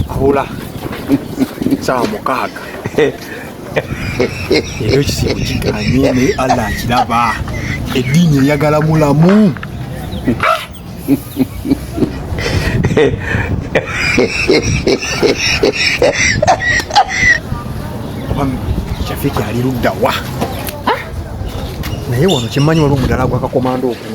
Hula sawa mukaaga ekyo kisibu kikanye naye Allah akiraba eddiini eyagala mulamu ah! shafiki ali ludda wa ah? naye wano kyemmanyi waliwo omudala gwakakomanda oku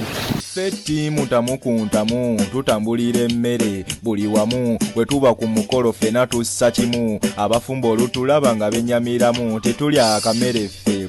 ffe ttiimu tamu ku ntamu tutambulira emmere buli wamu bwe tuba ku mukolo ffena tussa kimu abafumba olutulaba nga bennyamiramu tetulya akamere ffe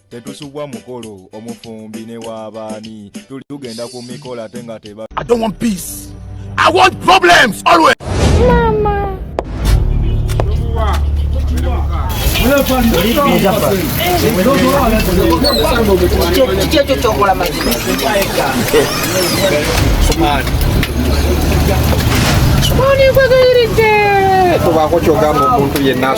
tetusubwa mukolo omufumbi ne wabaani tuli tugenda ku mikolo ate nga teba I don't want peace. I want problems always. Mama. Mama.